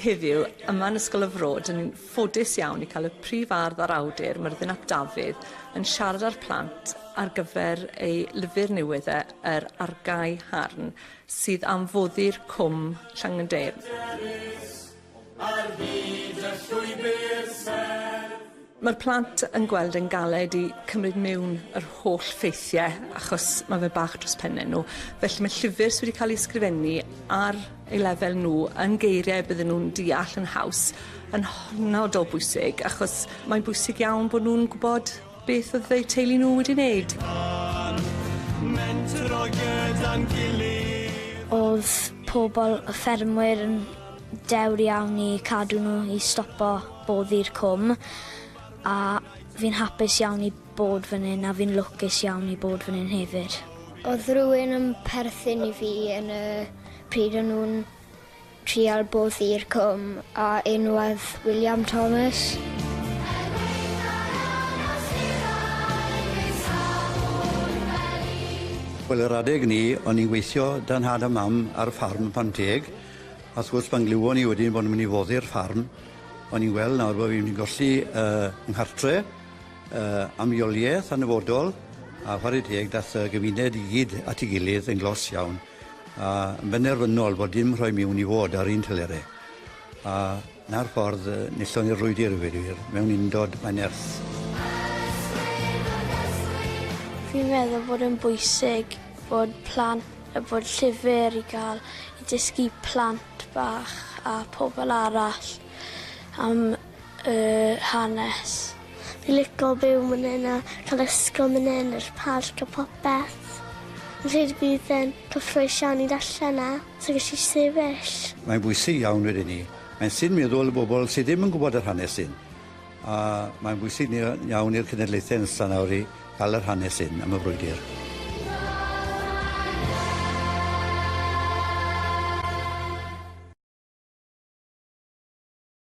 heddiw yma yn Ysgol y Fro, dyn ni'n ffodus iawn i cael y prif ardd a'r awdur, Myrddin ap Dafydd, yn siarad â'r plant ar gyfer ei lyfr newydd e, Yr Argae Harn, sydd am foddi'r cwm Llangyndeir. Ar hyd y llwybr serth. Mae'r plant yn gweld e'n galed i cymryd miwn yr holl ffeithie achos ma' fe bach dros penne nhw. Felly mae llyfr sy wedi cael ei sgrifennu ar ei lefel nhw yn geiriau bydden nhw'n deall yn haws yn hynod o bwysig achos mae'n bwysig iawn bod nhw'n gwbod Beth oedd eu teulu nhw wedi wneud? Oedd pobl y ffermwyr yn dewr iawn i cadw nhw i stopo boddi'r cwm a fi'n hapus iawn i bod fan hyn a fi'n lwcus iawn i bod fan hyn hefyd. Oedd rhywun yn perthyn i fi yn y pryd o'n nhw'n Trial bwrdd i'r cwm a enwodd William Thomas. Wel yr adeg ni o'n i'n gweithio da nhad a mam ar ffarm Pant Deg a wrth gwrs pan glywo ni wedyn bo' nw'n myn' i foddi'r ffarm o'n i'n gweld nawr bo' fi myn' i golli yy nghartre yy am leolieth yn y fodol a chware teg dath y gymuned i gyd at 'i gilydd yn glos iawn. A yn benderfynol fod dim rhoi miwn i fod ar un telere. A 'na'r ffordd yy nethon ni'r frwydr i ddweud y gwir, mewn undod mae nerth. Fi'n meddwl bod e'n bwysig bod plant yy bod llyfr i ga'l i dysgu plant bach a pobl arall am y hanes. Fi'n lico byw myn hyn a ca'l ysgol myn hyn yr parc a popeth. Fi'n credu bydd e'n cyffrous iawn i ddarllen na so ges i sefyll. Mae'n bwysig iawn wedyn ni. Mae'n synd meddwl y bobl sy ddim yn gwybod yr hanes hyn. A mae'n bwysig ni- iawn i'r cenedlaethau nesa nawr i ga'l yr hanes hyn am y frwydr.